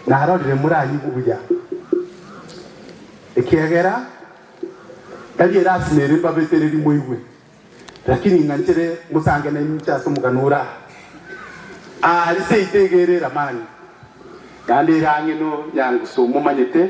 Narorire moranyigwe buya, ekiagera tari erasima ere mbabetererie moigwe, lakini ing'anchere mosange na inche ase omogano ore aa. Aare seito egereire amani, naende ere ang'e nonyango somomanyete.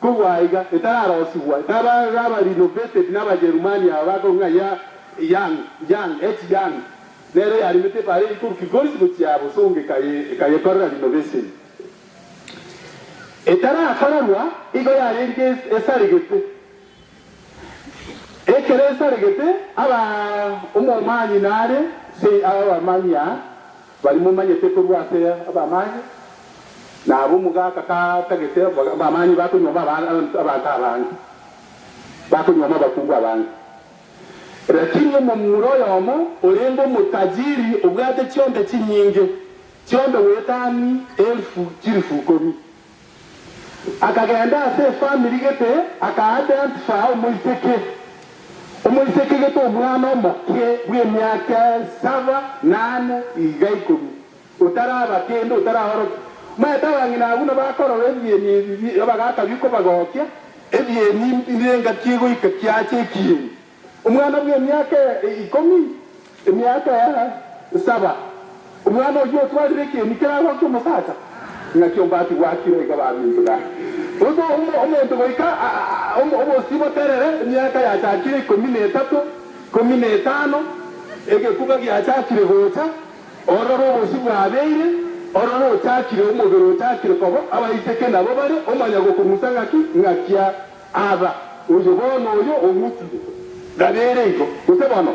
Kobua aiga, etararosigwa, etaba aba renovated naba Jerumani aba bakorwa ng'a ya Young, Young, H. Young, nere yaremete ebare eye korwa Kilgoris gochia Bosongo ekaye, ekayekorera renovation. Etarakorerwa, igo yarenge es, esaregete. Ekero esaregete, aba omomani nare, say, aba bamani aa. Baria momanyete korwa ase abamani, na abwo mogaaka katagete abamani bakonyuoma abanto abange, bakonyuoma abakungu abange. Lakini omomura oyomo orende omotajiri obwate chionda chinyinge, chionda goetani elfu chilifu ikomi. Akagenda ase efamiri gete, aka-identify omoiseke. Omoiseke gete omwana omoke bw'emiaka saba, nane, iga ikomi, otaraba kende, otaraorokia. Omanyete abang'ina abwo nabakorora ebieni ebi, bagakabia kobagokia ebieni, mbirenga ki goika kiache ekieni? Omwana bw'emiaka ikomi, emiaka saba, omwana oyio otwarire ekieni keragoa ki'omosacha, ng'aki ombati gwakire iga bamintuga. Gose omonto goika obosio boterere, emiaka yachakire ikomi na etato, ikomi na etano, egekuba giachakire gocha, ororo obosio bwabeire, ororo ochakire omobere ochakire koba abaiseke nabo bare, omanya gokong'usa ng'aki, ng'akia. Aba, oyo bono oyo ogutire, gabia ere igo, gose bono?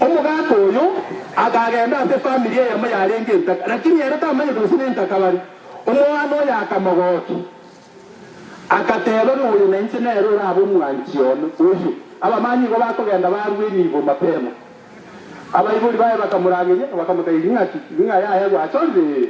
Omogaka oyo akagenda ase efamiri eyemo yarenge entaka, lakini ere tamanyete gose nentaka bare. Omwana oyo akamogokia, agateba ng'a oyo nainche nere orabe omwanchi one oyo. Abamani igo bakogenda barue enibo mapema. Abaibori baye bakamorangeria, bakamotebia, Ing'aki? Ing'aye aye gwachorire?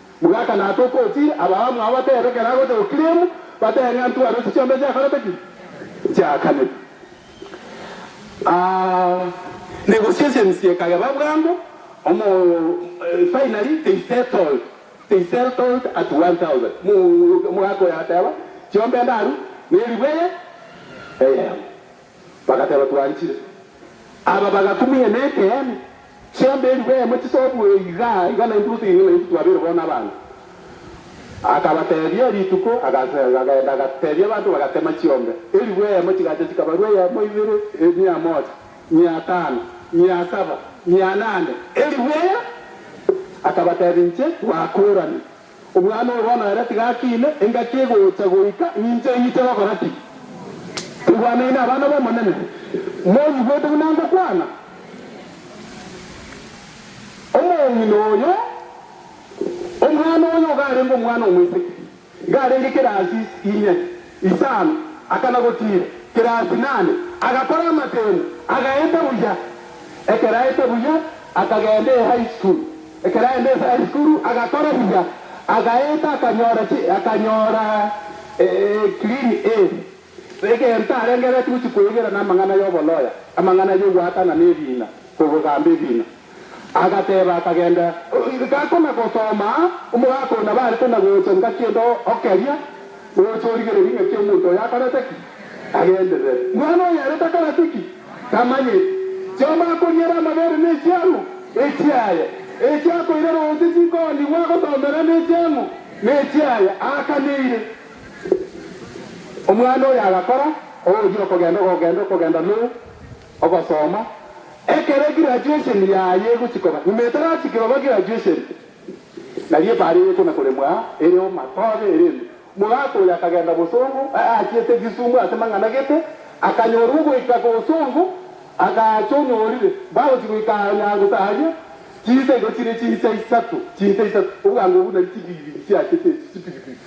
Mogaka na atoke ochire, abao mwao batebe ekero agocha gokiremu, batebe ng'a ntware ochi chiombe chiakorete ki? Chiakanete. Aa negoseasensie ekageba bwango omo finally they settled they seltled at 1000 mo mogaka oyo ateba chiombe ndaru neribwe eye eyemo. Bagateba, Twarichire. Aba bagakumia nekeene, Chiombe eriba eyemo chisobue iga, iga naintwe gotigena naintwe twabeire bono abanto. Akabatebia rituko, agase, agenda agatebia abanto, bagatema chiombe eriba eyemo, chigacha chikabarwa eyemo, ibere, emia mocha, mia tano, mia saba, mia nane, eriba eye. Akabatebia, Inche twakorani. Omwana oyo bono ere tiga akiine, engaki egocha goika ninche ing'ite gokora ki? Igwanei nabana b'Omonene, moigwete buna ngokwana. Omong'ina oyo, omwana oyo ogarenge omwana omoiseke, garenge kera ase inse, inye. isano, akana-gotiira kera ase nane, agakora amatendo, agaeta buya. Ekero aete buya, akagenda eHigh School. Ekero aende ase High School, agakora buya, agaeta akanyora chi, akanyora e, Clean A. Egento arenge reti gochi koegera namang'ana yobo-loya, amang'ana yogoakana nebiina, kogogamba ebiina. Agateeba, Akagenda ngako na gosoma omogaka oyo nabarete na gocha ngaki ende o keria, gocha origererie ngaki omonto oyo akorete ki, agenderere. Mwana oyo ere takoreti ki? Tamanyeti. Chioma akoriere amabere ne chiang'u echiaye, echi akoira roche chikoonigwa agosomera ne chiang'u ne echiaye aakaneire. Omwana oyo agakora, ogochia okogenda, okogenda, okogenda, lou! Ogosoma, Ekero graduation yaye egochia koba, nyuma etarachia koba graduation, nari ebaare eye ekona koremwa aa ere omatoge erende. Mogaka oyo akagenda bosongo, aachete Kisumu ase mang'ana gete, akanyorwa ogoika bosongo, agaacha onyorire, bagochia goika aa Nyangusa aria, chinsa igo chire chinsa isato, chinsa isato, obogango obwo nari chibiibi chiachete echi, chipiripiri.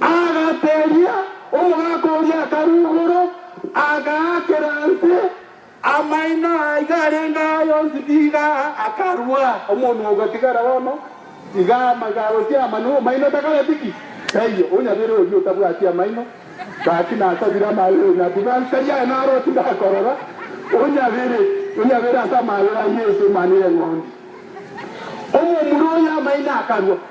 Agateria omogaka oria akarugoro, agaakera nse amaino aiga arenge aya onsi tiga akarua. Omonwa ogatigara bono tiga amagawo ase amano, amaino takareti ki? Taiyo. Onyabere oyio otabwati amaino, gaki nasabire amabere ng'ati, ng'aki tari aye naroti ngakorora? Onyabere, onyabere ase amabere a Yesu, mani eng'ondi. Omomura oyo amaino akarua.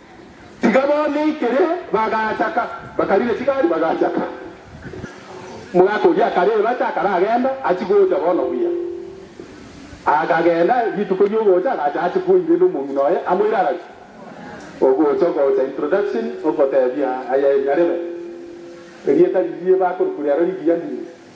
Tiga boneikire, bagachaka, bakarire chigari, bagachaka. Omogaka oria akarebata, akaragenda, achia gocha bono buya. Akagenda, rituko riogocha agacha ache koirera omong'ina oye, amoire agacha. Ogocha, ogocha, introduction, ogotebia, Aye nyarebe, erieta riria bakorokwa riaro rigiya ndiri.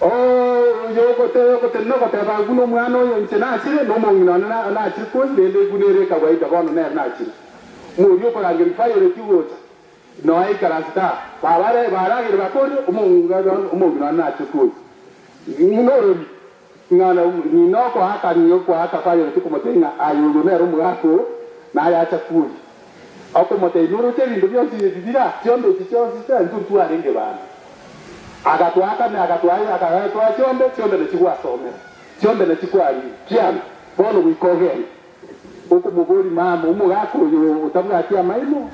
Oo, oyio ogoteba, ogoteba, nogoteba, Agwo nomwana oyo inche nachire, nomong'ina one na, nachire kosi, rende eguna ere ekagwa eita, bono nere nachire. Moria okorangeria Violet gocha, noe ikaranse taa, baba are, baragere bakorire, omong'ina one, omong'ina one nachire kosi. Ng'ina orori, ng'a na, ng'ina okoaka, ng'ina okoaka Violet okomotebia ng'a aye oyio nere omogaka oo, naye acha koria. Okomoteebia, Oroche ebinto bionsi ebi bire ase onde echi chionsi chiaintwe ntwarenge baano. Agatoakame, agatoaye, agatoa chionde, chionde nachigwasomera, chionde nachikwarire. Kianga, bono goika ogende. Okomoboria, Mama, omogaka oyo otabwati amaino,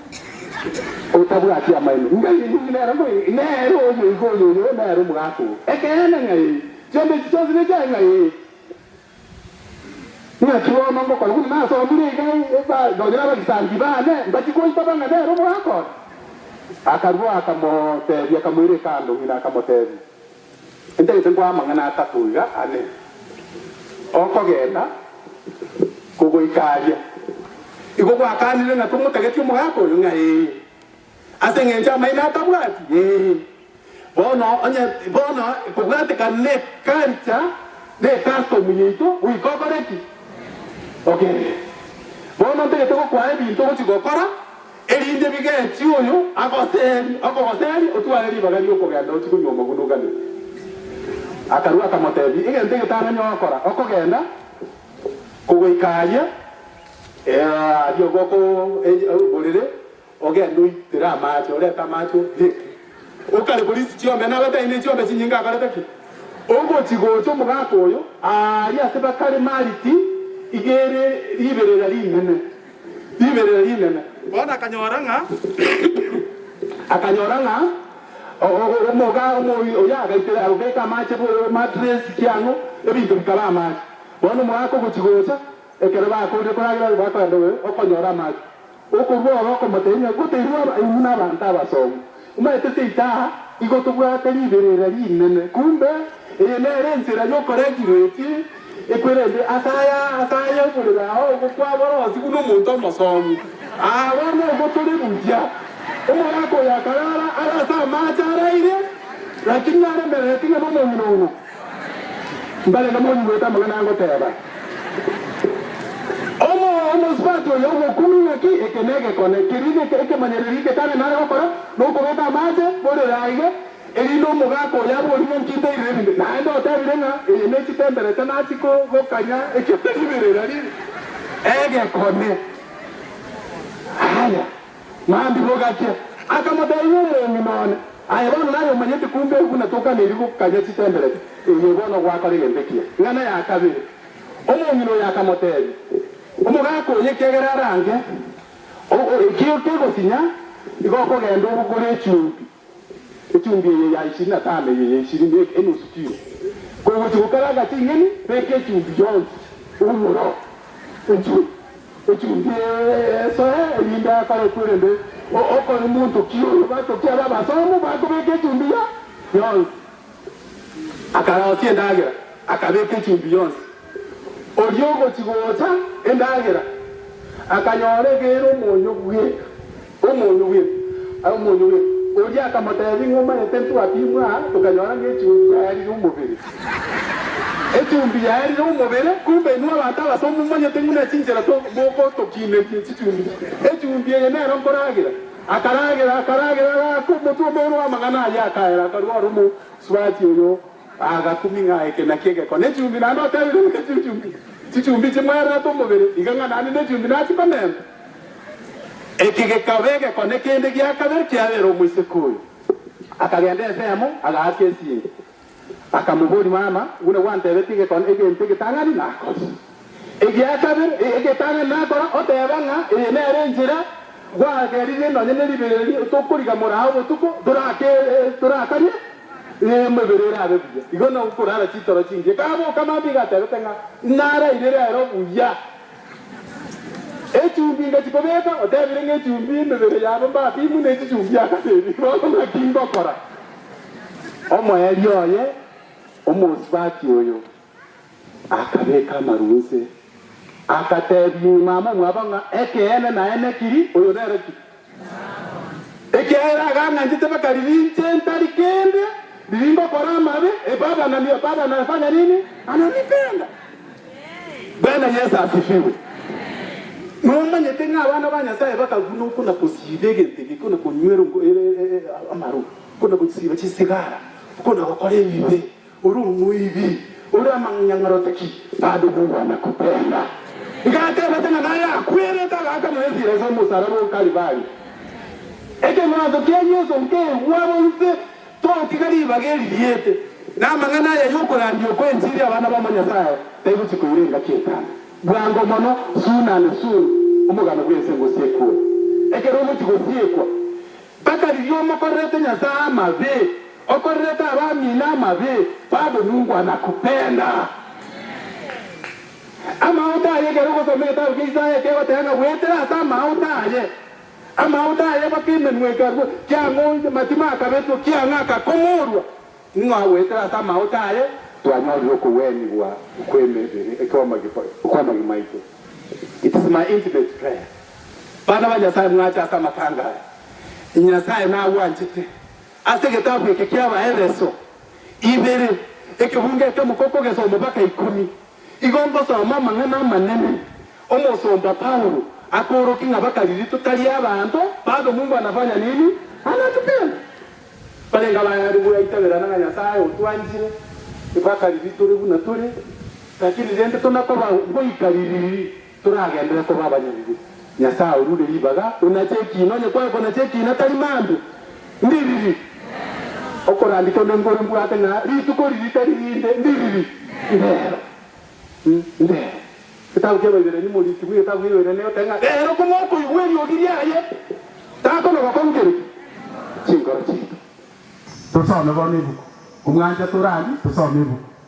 otabwati amaino, inga inwe ng'ai nere ng'ai? Nere oyo iga oyo, oyo nere omogaka oo. Ekeene, ng'ai? Chionde echi chionsi nechiaye ng'ai? Naki bono ngokora buna nasomire iga, ba, nonya nabagisangio baane mbachie goita bang'ana ere omogakora. Akarua akamotebia, akamoira ekando, ng'ina akamotebia, Intagete ngoe amang'ana atato iga ane, okogenda kogoika aria. Igo gwakanire, naki omotagetie omogaka oyo ng'a ee, Ase engencho amaino atabwati? Ee. Bono onye bono kobwatekana ne culture ne custom yaito goika okore ki? Ogerere. Bono ntagete gokwaa ebinto ogochi gokora erinde bigechi oyo agoseri okogoseri otware ribaga riokogenda ochi konywa omoguna oganete. Akarua akamotebi egento egetarenge ogokora okogenda kogoika aria ee aria goko ee oborere Ogende oitire amaache, orete amaache obieke. Okare borisi chiombe, nabatae ne chiombe chinyinge abarete ki? Ogochi gocha omogaka oyo, aaria ase bakare mariti igere riberera rinene, riberera rinene. Bono akanyora ng'a akanyora ng'a omoga omoyio oyo agaitera agobeka amaache boyo matress ki ang'o, ebinto bikaba amaache. Bono omogaka ogochi gocha, ekero bakoorire koragera bakoenda oyo okonyora amaache. Okorua oro okomoteebia, Ngoteirwe aba, inwe nabaanto abasomu, imaete seita aa, igo tobwate riberera rinene. Kumbe eye nere ensera y'okoretirwa echi ekwerende ase aya, ase aya oborere ao ogokwa bore onsi buna omonto omosomu. Aa, bono igo tore buya. Omogaka oyo akarara are ase amaache araire, rakini naremererete ng'a nomong'ina obo. Mbare namoni goeta amang'ana angoteba. Omo omosubati oyo omokungu ng'aki, Eke negekone, keria neke ekemanyererio egetare nare gokora, nokobeka amache borere aiga, erinde omogaka oyo abe orimo nkinteirire ebinto. Naende otebire ng'a eye ne chitemberete nachi kogokanya ekepe ribe rera ribe egekone. Aya. Ng'ambi bogachia. Akamoteebia omong'ina one, Aye bono naye omanyete kumbe oku natokaneiri gokanya chitemberete, eye bono ogwakora egento ekiya, ng'ana ya kabere. Omong'ina oyo akamoteebia, Omogaka oyo ekiagera arange, o- o- ekio kegosinya, igo okogenda ogokore echumbi. Echumbi eye ya ishirini na tano eye ya ishirini eke enusu kilo. Kogochia gokaranga ching'eni, beka echumbi yonsi omoro inchwe echumbi eye esoe, erinde akore korende o- okore monto ki oyo. Batokie abe abasomu, bakobeka echumbi ya yonsi Akarosia endagera, akabeka echumbi yonsi. Oria omochi gocha endagera akanyora egeire omonyo bweka, omonyo bweka, aye omonyo bweka. Oria akamotebia, Ing'o omanyete ntwapimwe aa, tokanyora ng'a echumbi yaerire omobere. Echumbi yaerire omobere, kumbe inwe abanto abaso momanyete ng'una chinchera to mogotokineria chichumbi. Echumbi eye nero nkoragera. Akaragera, akaragera, agaaka omotwe omoulo bw'amang'ana ayio, akaera, akarua ore omosubaati oyo, agakumia ng'a eke nakio egekone echumbi, naende oteebire ng'a echi nchumbi, chichumbi chimwerete omobere, iga ng'a naende nechumbi nachikonenta. Eke gekaba egekone kende gia kabere kiabera omoiseke oyo. Akagenda ensemo, agaaka esiinki, Akamoboria, Mama, buna gwantebetie gekon egento egetang'ani nakore. Egia kabere, e, egetang'ani nakora, oteba ng'a eye nere enchera, gwageririe nonya neribererio tokoriga morao botuko, torake, e, torakarie, e, emebere erabe buya. Igo nokorara chitoro chingiya. Kaboka mambia iga atebete ng'a naraire rero buya. Echumbi ngachia kobeka, otebire ng'a echumbi emebere yabo mbapimu nechichumbi akaseri. Bono ng'aki ngokora? Omoerio oye omosibati oyo akabeka amaru inse, agateebia nyuma amo mwabo ng'a, Ekeene naye nekiri, oyo nere ki? Ekiagera agang'anchete mpaka riria inche ntari kende, riria ngokora amabe, ebabana, ebabana, efanya nini? Ananipenda. Bwana Yesu asifiwe. Nomanyete ng'a abana ba Nyasaye bakaguna oko na kosiba egento eke, oko na konywera ongo- e- e- e- e- amarwa, oko na gosiba chisigara, oko na gokora ebibe, ore omoibi, ore amang'anyarotoki, bado nobwana kotenda. Igatebete ng'a naye akwerete agaakana esira ase omosalaba o Kalvari. Ekemanso kia Yesu nkeigwa bonsi Togotiga ribaga eri riete, na amang'ana aya y'okorandia okw'enchiri abana ba Omonyasae taigochia koirenga ki'etano. Bwango mono, soon and soon, omogano bw'ense ngosiekwe. Ekero ogochia gosiekwa, taka riria omokorerete Nyasae amabe, okorerete abamino amabe, bagonungwa na kupenda. Amaote aye, ekero ogosoma egetabu kia Isaya ekegoteba ng'a bwetera ase amaote aye, Amaondo aye mpaka emenwa ekarua, kiang'o matima akabetwa, kiang'o akakomorwa. Ning'o agoetera ase amaoto aye? Twanyorire okogwenigwa kw'emebere kw'amagima aito. It is my intimate prayer, bana ba Nyasae mwache ase amatanga aya, Nyasae nagwanchete. Ase egetabu eke ki'Abaefeso ibere, ekebungo ekemo kokogesa omobaga ikomi, Igo ngosoma amang'ana amanene omosomba Paulo akoorokia ng'a bakariritwe tari abanto batomungwa na banya nini banatupenda. Barenge abayare goetaberana ng'a Nyasae otwanchire tibakariritwe buna tore, lakini rende tonakoba goika riiri. Toragenderere koba abanyabibe. Nyasae orure ribaga onache ekiina, onye kwaye konacha ekiina tari mambe. Ndiriri. Okorandika onde ngore mbwate ng'a rituko riria tari rinde. Ndiriri. Rero. Rero. Getabu kia Abaiberania Moritiri bwe getabu kia Abaiberania egoteba ng'a rero kong'a okoigwa eriogi riaye takonogoka onkereki chinkoro chiaito. Tosome bono ebuku. Omwancha torari tosome ebuku.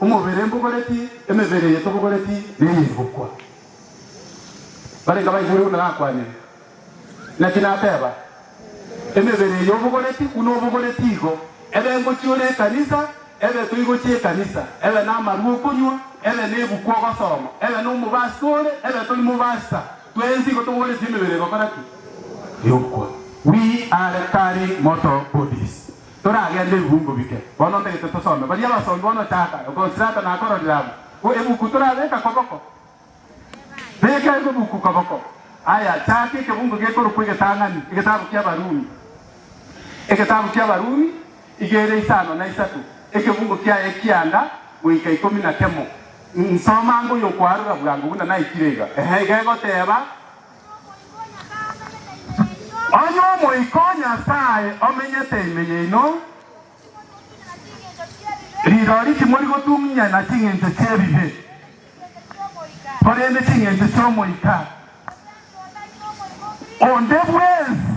Omobere mbogoreti, emebere eye tobogoreti neye eri gokwa. Barenge abaigure buna nakwanire. Naki nateba, Emebere eye obogoreti, buna obogoreti igo, ebe ngochia ore ekanisa, ebe toigochia ekanisa, ebe namarwa okonywa, ebe nebuku ogosoma, ebe nomobasi tore, ebe tori mobasi ta, twensi igo tobogoreti emebere egokora ki? Egokwa. We are carrying mortal bodies. Toragende ebibungo bike. Bono ntagete tosome baria abasombi bono Chaka, Okonsilata na Akoroliramu. Bo ebuku torabeka koboko. Beka ebuku koboko. Aya, Chaka ekebungo gekorokwa Egetang'ani, Egetabu ki'Abarumi. Egetabu ki'Abarumi igere isano na isato, ekebungo kiaye ekianda goika ikomi na kemo. Nsoma anga oyokoarora bwango buna naikire iga. Ehe, iga egoteba. Onye omoika o Nyasae omenyete ime yaino, rirori timori gotung'unyana ching'encho chi'ebibe, korende ching'encho chi'omoika onde bwensi.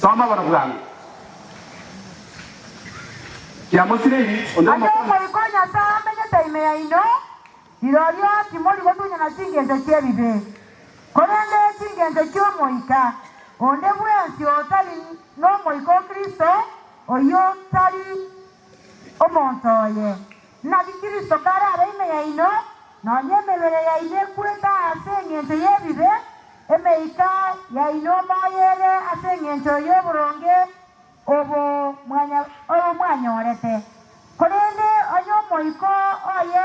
Soma bono bwango. Kiamosireri onde Ase omokonyi. omoika o Nyasae amenyete ime yaino, rirorio timori gotunyana chingencho chi'ebibe. Korende chingencho chi'omoika onde bwensi otari nomoika o Kristo, oyio tari. Omonto oye, naki Kristo kare abe ime yaino, nonya emebere yaino ekwete aase engencho y'ebibe, emeika yaino moyo ere ase engencho y'oboronge obo mwanyorete, korende onye Omoika oye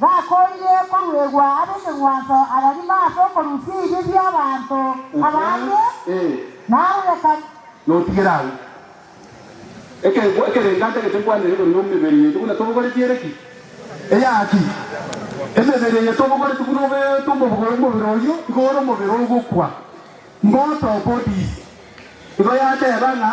Bakoorire koruegwa ab'ekegwanso abagima ase okorusia ebibe bi'abaanto abange, na ab'ekanisa. Notigere agwo. Ekeegwa ekerenga ntagete nkwanere igoro y'omebere yaito buna tobogoretie ere ki? Eyaki? Emebere yaito obogoretie buna obeete omobuga omobere oyio igo ore omobere ogokwa, mortal bodies. Igo yateeba ng'a.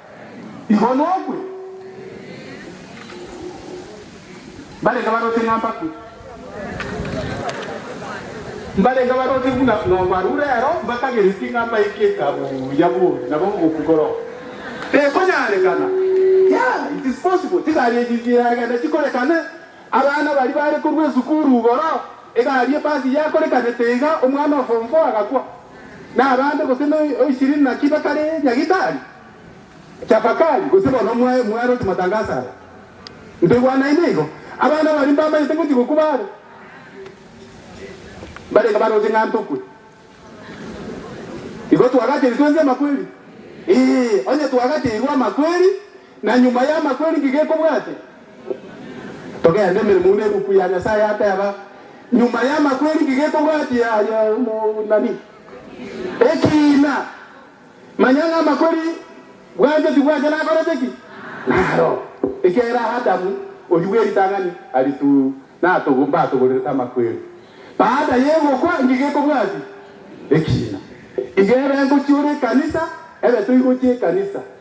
Igo nokwe mbarenge baroti ng'a mbakwe, mbarenge baroti buna nobaru rero mbakagereti ng'a mbaike etabu ya bori nabo ngokwi koroo. Tekonyarekana, yeah, it is possible, chingaki echi chiagenda chikorekane. Abana baria bare korwa esukuru igoro, egari ebasi yakorekanete iga omwana o form four agakwa. Nabande gose na oishirini naki bakare nyagitari? Tafakari gose bono mwae mwaroti matangaso aya. Ntoigwanaine igo. Abana baria mbamanyete ngochia gokwa bare. Mbarenge baroche ng'a ntokwe. Igo twagacheiri twensi amakweri? Ee, onye twagacheirwe amakweri. Na nyuma y'amakweri inki gekobwate? Togende, emeremo buna eruku ya Nyasae yateba, Nyuma y'amakweri inki gekobwati aye omonani? Ekiina, manya ng'a amakweri bwancha tibwancha nakorete ki? Naro, ekiagera Adamu, oyio bwe ritang'ani, aritu natogo mbatogorerete amakweri. Baada y'egokwa inki gekobwati? Ekiina. Inge ebe ngochiora ekanisa, ebe toigochia ekanisa.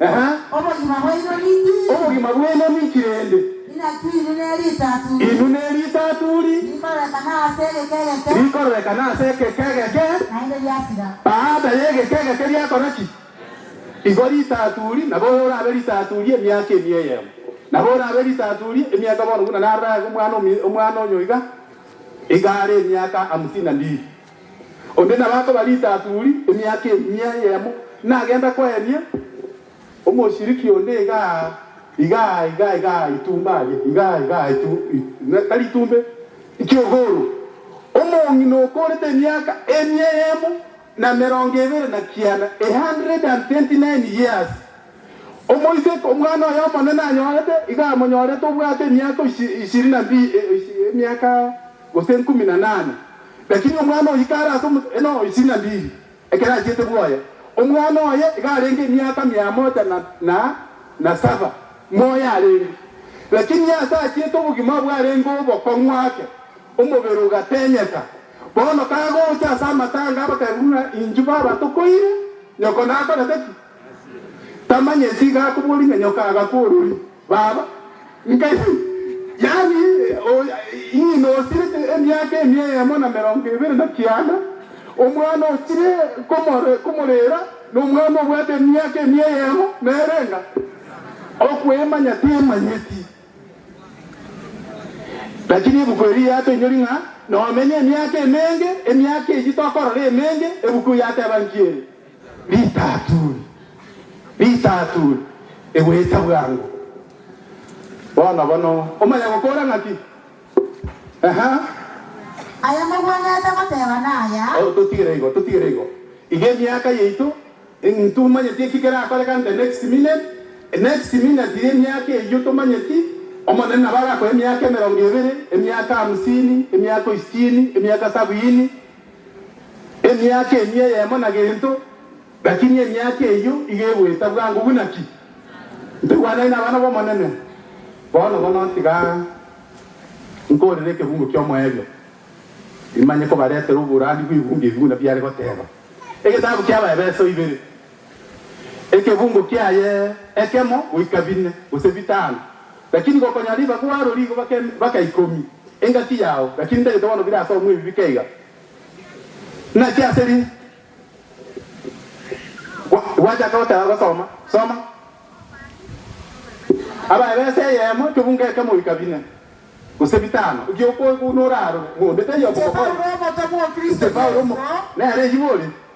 Ehe. Obogima bwaino ninki? Obogima bwaino ninki rende? Inaki inwe neritaturi. Inwe neritaturi. Rikororekana ase egeke egeke. Rikororekana ase egeke egeke. Naende riasira. Baada ya egeke egeke riakora ki? Igo ritaturi, nabo orabe ritaturi emiaka ime eyemo. Nabo orabe ritaturi emiaka bono buna narorage omwana omwana onye oiga, iga are emiaka hamsini na mbili. Onde nabo akoba ritaturi emiaka emia eyemo, nagenda koenia omoshiriki onde igaa, igaa, igaa, igaa itumbe aria, igaa, igaa itu, i, tari itumbe, ikiogoro. Omong'ina okorete emiaka emia eyemo na emerongo ebere na kianda, a hundred and twenty-nine years. Omoiseke omwana oye omonene anyorete, iga amonyorete obwate emiaka ishirini na mbili, emiaka gose ikomi na nane, lakini omwana oyio are ase omote, no, ishirini na mbili, ekero achiete bwoye. Omwana oye iga arenge emiaka mia mocha na saba moyo arenge, lakini ase achiete obogima obwo arenge obokong'u ake, omobere ogatenyeka. Bono kagocha ase amatanga, abakarabia buna, Inchuo baba tokoire, nyoko nakorete ki? Tamanyeti iga akobua rimenyo kagakwa orori, Baba, nkaire. Yaani ng'ina osirete emiaka emia eyemo na merongo ebere na kianda, omwana ochire komorera nomwana obwate emiaka emia eyemo nere enga? Okwemanya temanyeti. Lakini ebuku eri yatoinyori ng'a nomenye emiaka emenge, emiaka eyio tokorora emenge, ebuku yateba nki ere? Risaaturi, risaaturi, egoeta bwango. Bono bono omanya gokoora ng'aki? Ehe. Aya mogwenerete goteba naya. Oh, totigere igo, totigere igo. Iga emiaka yaito, ing, ntumanyeti eki kerakoreka in the next minute, next minute iga emiaka eyio tomanyeti, Omonene nabo arakoe emiaka emerongo ebere, emiaka hamsini, emiaka isitini, emiaka sabiini, Emiaka emi eyemo na gento, lakini emiaka eyio iga egoeta bwango buna ki? Ntegwanane nabana b'Omonene. Bono bono tiga nkoorere ekebungo ki'omoerio, imanye kobaretera oborandia bw'ebungo ebi buna biare goteba. Egetabu ki'Abaefeso ibere. Ekebungo kiaye ekemo goika bine, gose bitano, lakini gokonya ribaga oaro rigoba kebaka ikomi, engaki yao, lakini ndagete bono bire ase omwebi bike iga. Naki ase ri gwachaka goteba gosoma, soma, Abae b'ense eyemo ekebungo ekemo goika bine, gose bitano, eki'okoigwa buna orarore, ng'o onde taiyo okogokora? Inche Paulo, omokristo Yeso. Nere eyio bore.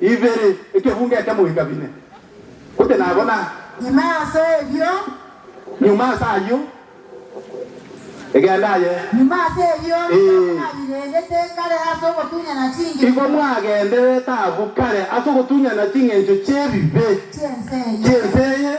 ibere, ekebuunga ekemo goika bine, gose nabo na. Ime ase erio. Nyuma ase ayio, egenda aye. Nyuma ase erio, taabu narireegete kare ase ogotunyana chingencho. Igo mwagenderere taabu kare ase ogotunyana chingencho chi'ebibe. Chi'ense eye. Chi'ense eye,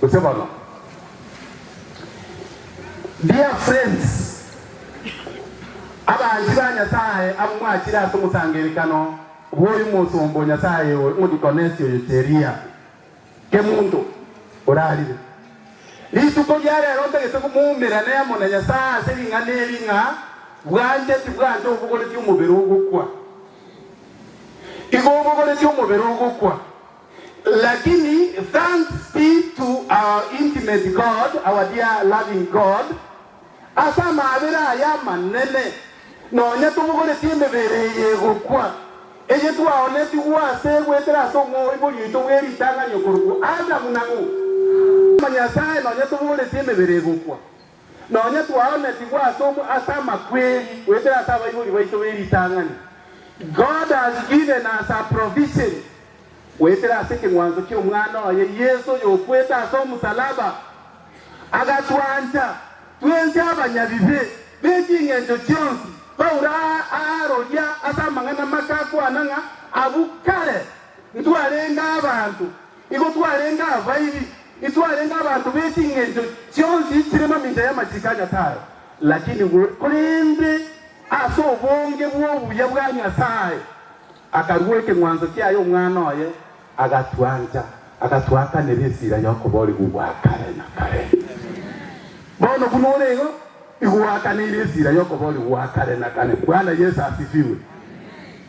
Gose bono, Dear friends, Abanchi ba Nyasaye abwo mwachire ase omosangererekano bw'oyomosomba o Nyasaye oyo, omodikonesi oyo Cheria, Kemunto, orarire. Rituko ria rero ntagete komoumera nemo na Nyasaye ase ring'ana eri ng'a bwancheti bwancha obogoreti omobere ogokwa. Igo obogoreti omobere ogokwa. Lakini thanks be to our intimate God, our dear loving God, ase amaabera aya amanene, nonya tobogoretie emebere eye egokwa, eye twaoonetigwe ase goetera ase omwoibori oito bwe ritang'ani okorokwa Adamu, na ng'o, Nyasae, nonya tobogoretie emebere egokwa. Nonya twaonetigwe ase ase amakweri goetera ase abaibori baito be ritang'ani, God has given us a provision goetera ase ekeng'wanso ki'Omwana oye Yeso oyokwete ase omosalaba, agatwancha twensi abanyabibe ne ching'encho chionsi. Paulo aaroria ase amang'ana make akwana ng'a, Abwo kare ntwarenge abanto Nigo twarenge abaibi, intwarenge abanto be ching'encho chionsi chire mamincha y'amachiko a Nyasae, lakini korende ase obonge bw'obuya bwa Nyasae akarua ekeng'wanso kiaye Omwana oye, agatwancha, agatuakanera esira y'okoboorigwa gwa kare na kare. Bono buna ore igo, igoakaneire esira y'okoboorigwa gwa kare na kare. Bwana Yeso asifiwe.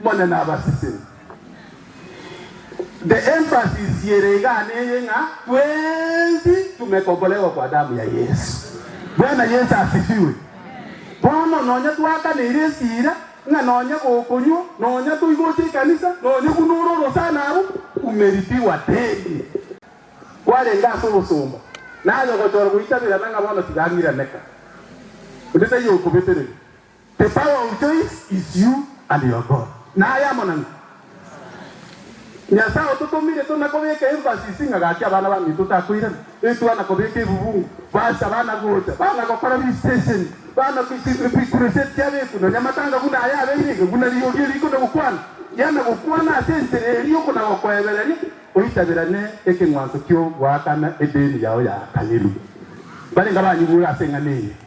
Mone nabasise. The emphasis yere egane eye ng'a twensi tumekomboregwa kwa damu ya Yesu. Bwana Yesu asifiwe. Bono nonya twakaneire esira ng'a nonya gokonywa, nonya toigocha ekanisa, nonya buna ore orosana abu, umelipiwa deni. Kwarenge ase obosomba, naye ogochora goitaberana ng'a bono tiga ang'iraneka, onde taiyo okobetereri, The power of choice is you and your God naye amonene Nyasae ototomire tona kobeka emphasis ng'a gaki abana bamino totakoirana etwa na kobeka ebubungo base abana gocha bana gokora visitation bana bikureset kiabeku nonya matanga buna aya abeire iga buna rirorio riko na gokwana gia na gokwana ase enchera eria oko na gokoebereria oitaberane ekeng'wanso ki'ogoakana edeni yao yaakanirwe barenge abanyigure ase eng'ana eye.